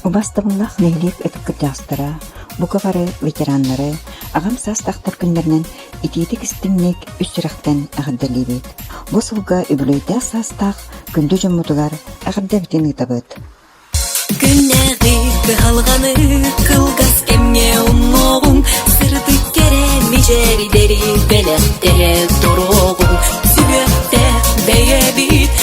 Убас тыллаах нэһилиэк өтүккүттээх бука бары ветераннары аҕам саастаахтар күннэринэн итиитик-истиҥник ис сүрэхтэн эҕэрдэлиибит! Бу сылга үбүлүөйдээх саастаах күндү дьоммутугар эҕэрдэбитин ыытабыт! Күннээҕи кыһалҕаны кылгас кэмҥэ умнуоҕуҥ, сырдык кэрэ мичээрдэри бэлэхтэрэ туруоҕуҥ, сүбүөхтээх бэйэбит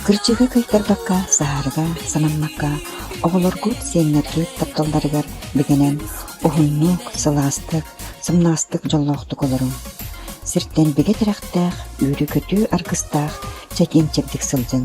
Кырдьыгы кыайтарбакка, саһарга, санаммакка, оҕолоргут, сиэннэргит тапталларыгар бигэнэн уһуннук, сылаастык, сымнаастык дьоллоохтук олоруҥ. Сиртэн бигэ тирэхтээх, үөрүү-көтүү аргыстаах, чэкиэн-чэбдик сылдьыҥ.